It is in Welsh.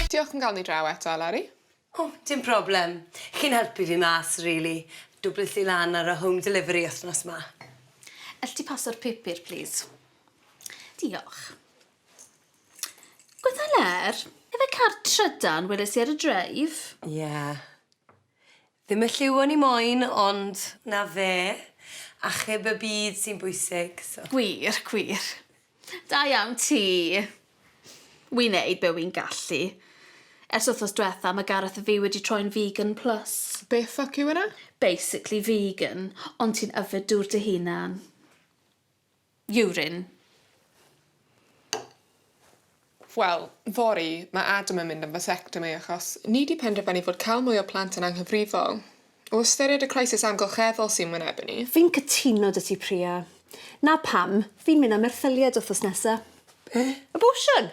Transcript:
Diolch am gael ni draw eto, Eleri. O, dim problem. Chi'n helpu fi mas, rili. Dwblys i lan ar y home delivery wythnos 'ma. Elli di paso'r pupur, plis? Diolch. Gweddhaler, efe car trydan weles i ar y dreif? Ie. Ddim y lliw o'n i moyn ond 'na fe, achub y byd sy'n bwysig, so. Gwir, gwir. Da iawn ti! Wi'n neud be wi'n gallu. Ers wthnos dwetha ma Gareth a fi wedi troi'n vegan plus. Be ffwc yw hwnna? Basically vegan, ond ti'n yfed dŵr dy hunan. Urine. Wel, fory, mae Adam yn mynd am vasectomy achos ni 'di penderfynu fod cael mwy o plant yn anghyfrifol. O ystyried y crisis amgylcheddol sy'n wynebu ni. Fi'n cytuno 'da ti Priya. 'Na pam, fi'n mynd am erthyliad wthnos nesa. Be? Abortion!